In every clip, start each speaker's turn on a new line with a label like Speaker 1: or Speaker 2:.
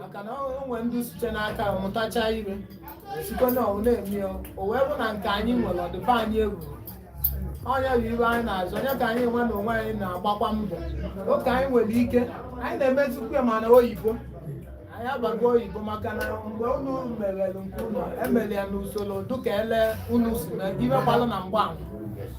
Speaker 1: maka na o nwere ndị site n'aka mụtacha ive sikwa na ọwụ na-eme ya o wee bụ na nke anyị nwere ọ dịba anyị egwu ọ nya bụ ive anyị na-azụ ọ nya ka anyị nwa na onwe anyị na-agbakwa mbọ oke anyị nwere ike anyị na-emezikwa ya mana oyibo anyị abago oyibo maka na mgbe unu merere nke unu emere ya n'usoro dịka ele unu si na-emekwalụ na mgbe ahụ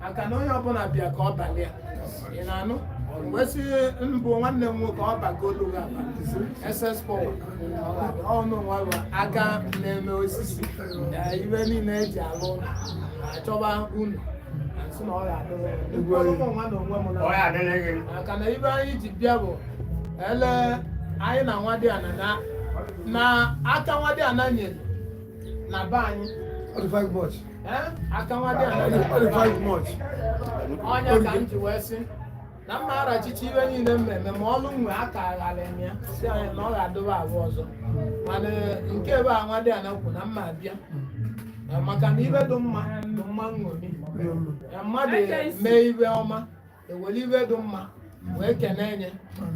Speaker 1: maka na onye ọbụla bịa ka ọ balị ya ị na-anụ wee sị mbụ nwanne m nwoke ọ bagolu ga ss pọl ọnụ nwa aka na-eme osisi na ive niile eji alụ ụlọ achọba unu asị na ọ ga-adịrị ya. Ugwu anyị. Ụmụ nwa na onwe m na- Ọ ya adịrị gị. maka na ive anyị ji bịa bụ ele anyị na nwadiana na na aka nwadiana nyere na be anyị Ọ dị five bucks. aka nwadị ọ nya ka m ji wee sị na m ma-arachicha ive niile mmemme ma ọlụ nwe aka aghalị m ya si anya na ọ ga-adụba abụ ọzọ mana nke ebe a nwadiana kwu na m ma-abịa maka na ive dị mma dị mma nṅomi mmadụ mee ive ọma e were ive dị mma wee kene enye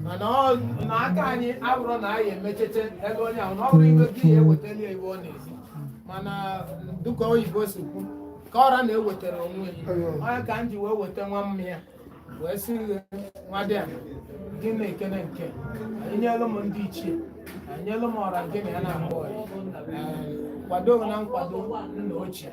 Speaker 1: mana ọ- na aka anyị abụrụ na anyị emechete ebe onye ahụ na ọ bụrụ ive gị ya ewetara ya ive ọ na-esi mana dịka oyibo si kwu ka ọ ra na-ewetara onwe ya ọ nya ka m ji wee weta nwa mmanya wee sị gị nwadiana gị na-ekene nke anyị nyelụ m ndị ichie anyị nyelụ m ọra gị na ya na-akpọ ya Ee, kwado na nkwado nna ochie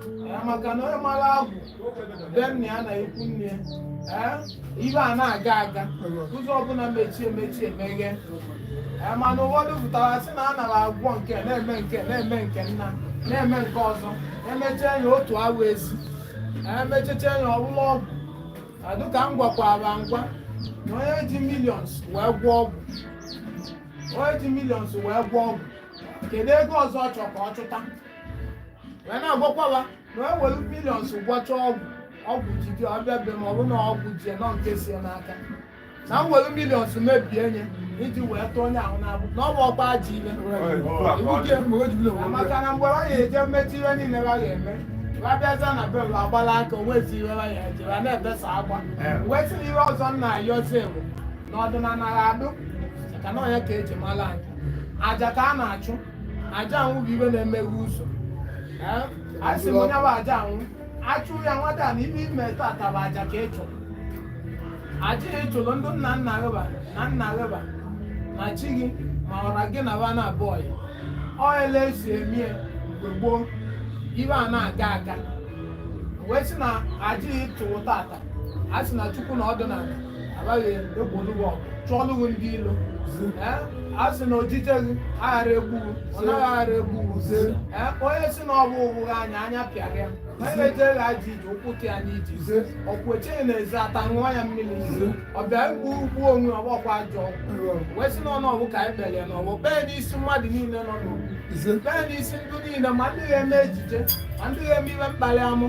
Speaker 1: Eh, maka na onye mara agwụ be nna ya na ikwu nne ya Eh, ive ana-aga aga ụzọ ọbụla mechie mechie emeghe Eh, mana ụfọdụ pụtara sị na a nara agwọ nke na-eme nke na-eme nke nna na-eme nke ọzọ emechaa ya otu awa ezi emechecha ya ọwụlụ ọgwụ adụ ka m gwakwara ngwa na onye ji millions wee gwọ ọgwụ onye ji millions wee gwọ ọgwụ kedu ego ọzọ ọ chọ ka ọ chụta wee na-agwakwala na e were millions gwọcha ọgwụ ọgwụ jide ọbịa be ma ọ bụ na ọgwụ jie nọ nke sie n'aka na m were millions mebie nye iji wee tụọ onye ahụ n'abụ na ọ bụ ọkpa ji ile maka na mgbe ha ga-eje mmechi ihe niile ha ga-eme ha bịaza na bel agbala aka o nwezi ihe ha ya eji ha na-ebesa akwa wee sị na ihe ọzọ m na-ayọzi bụ na ọdịnala ha adụ ka na ọ nya ka eji mara anyị aja ka a na-achụ aja anwụ bụ ive na-emeghe ụzọ a sị m ọ nya bụ aja anwụ achụ ya nwata na ive i me tata bụ aja ka ị chụrụ aja ị chụrụ ndị nna nna gị va na nna gị va na chi gị ma ọra gị na va na abụọ ya ọ ele e si eme ya mgbe gboo ive ana-aga aga wee sị na aja ị chụrụ tata a sị na chukwu na ọdịnala be gị egbolu gị ọgụ chụọlụ gị ndị ilo a sị na ojije gị aghara egbu gị ọna gị aghara egbu gị onye sị na ọbụ ụbụghị anya anya pịara ya onye na-eje gị ajọ ije ụkwụ tụ ya n'ije ọ kwụ eche gị na ezi ata ṅụọ ya mmiri ọbịa egbu gị gbu onwe ọgbọkwa ajọ wee sị na ọnụ ọgwụ ka anyị kpere ya n'ọgbọ kpee n'isi mmadụ niile nọ n'ọgbọ kpee n'isi ndị niile ma ndị ga-eme ejije ma ndị ga-eme ihe mkpali amụ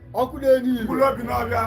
Speaker 2: ọkụ na-enye ilu mkpụrụ obi n'ọbịa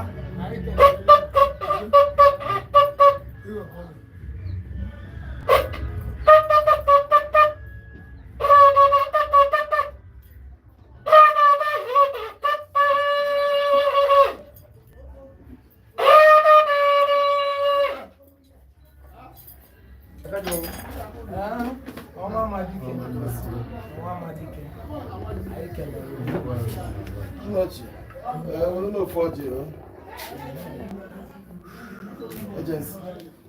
Speaker 2: Agency,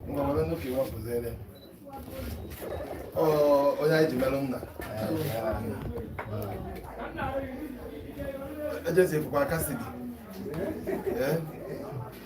Speaker 2: ngwa were nnukwu iwe ọpụzere onye anyị ji merụ nna ejesi ekwukwa aka si gị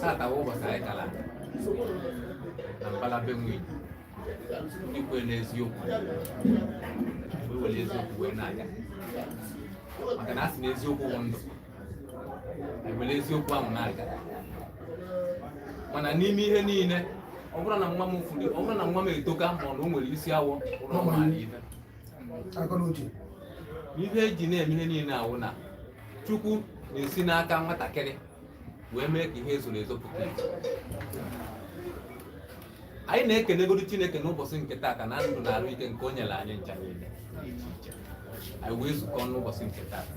Speaker 3: tata bụ ụbọchị anyị kara na mbala be nwunye ndị kwere n'eziokwu wee were eziokwu wee na-aga maka na a sị na eziokwu bụ ndụ ewere eziokwu ahụ na-aga mana n'ime ihe niile ọ bụrụ na nwa m furu ọ bụrụ na nwa m etoka ma ọ na o nwere isi awọ ụlọ ọ mara ihe ihe eji na-eme ihe niile awụ na chukwu na-esi n'aka nwatakịrị wee mee ka ihe ezoro ezo pụta anyị na-ekenegodu Chineke n'ụbọchị nke taata na ndụ na arụ ike nke o nyere anyị ncha niile anyị wee zukọ n'ụbọchị nke taata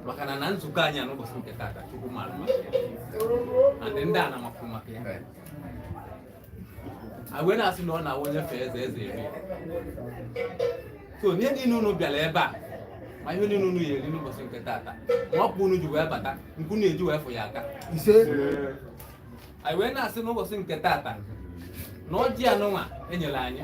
Speaker 3: maka na na nzukọ anyị a n'ụbọchị nke taata Chukwu mara maka ya ndị a na-amapụ maka ya wee na-asị na ọ na-awụ onye fee eze eze eru ya so n'ihe niile unu bịara ebe a ma ihe niile unu ya-eri n'ụbọchị nke taata ma ọkpa unu ji wee bata ka unu eji wee fụakwa ise anyị wee na-asị n'ụbọchị nke taata na ọjị anụnwa enyere anyị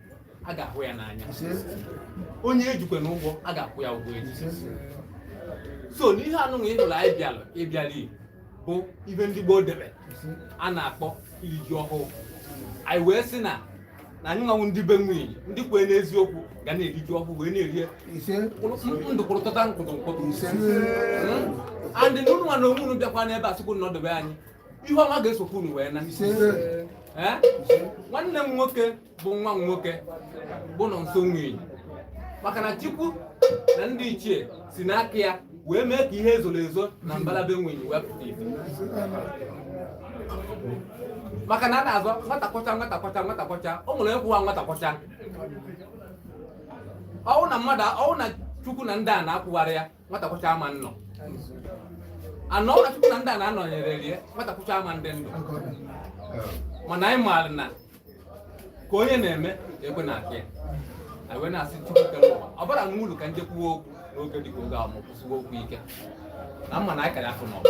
Speaker 3: a ga-ahụ ya n'anya onye ejikwe na ụgwọ a ga-akwụ ya ụgwọ eji so n'ihe anụnwa ị hụrụ anyị bịalụ ịbịala bụ ihe ndị gboo debe a na-akpọ iri ji ọhụụ anyị wee sị na na anyị nwa wụ ndị be nwunye ndị kwee n'eziokwu ga na-eri ji ọhụụ wee na-eri ndụ kwụrụtọta nkwụtụ nkwụtụ and na ụnụ nwa na onwe unu bịakwa n'ebe a sịkwu nọdebe anyị ihe ọma ga-esokwu unu wee naa nwanne m nwoke bụ nwa nwoke bụ Nọnso Nwenyi maka na Chukwu na ndị ichie si n'aka ya wee mee ka ihe ezoro ezo na mbala be Nwenyi wee pụta ife maka na a na-azọ nwata kwọcha nwata kwọcha nwata kwọcha o nwere ịkwụwa nwata kwọcha ọ wụ na mmadụ ọ wụ na Chukwu na ndị a na-akwụgharị ya nwata kwọcha ama nnọ anọ ọra chukwu na ndị a na-anọnyere rie nwata kwọcha ama ndị ndụ mana anyị maara na ka onye na-eme ekwe na-akụ ya anyị wee na-asị chukwu kere ụwa ọ bara nwa ulu ka m je kwuo okwu n'oge dịka oge a ma kwusiwa okwu ike na mma na anyị ka ya afụ n'ọgụ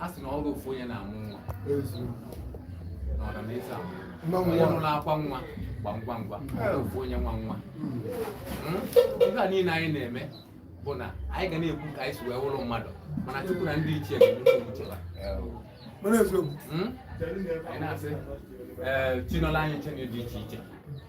Speaker 3: a sị na ọ wụ ofu onye na-amụ nwa na ọra na eze amụ onye nụrụ akwa nwa gba ngwa ngwa ofu onye nwe nwa hmm? ihe a niile anyị na-eme bụ na anyị ga na-ekwu ka anyị si wee wụrụ mmadụ mana Chukwu na ndị ichie ga-emucheba hmm? anyị na-asị ee eh, chinọla anyị nche dị iche iche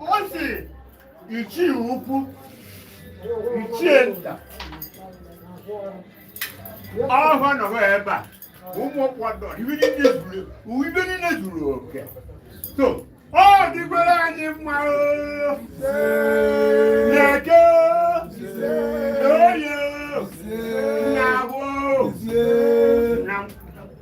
Speaker 4: ọ si ichie ukwu ichie nta ọhụrụ nọrọ ebe a ụmụ ọkpọdọ ibe niile zuru oke so ọ dịkwara anyị mma n'eke oye na afọ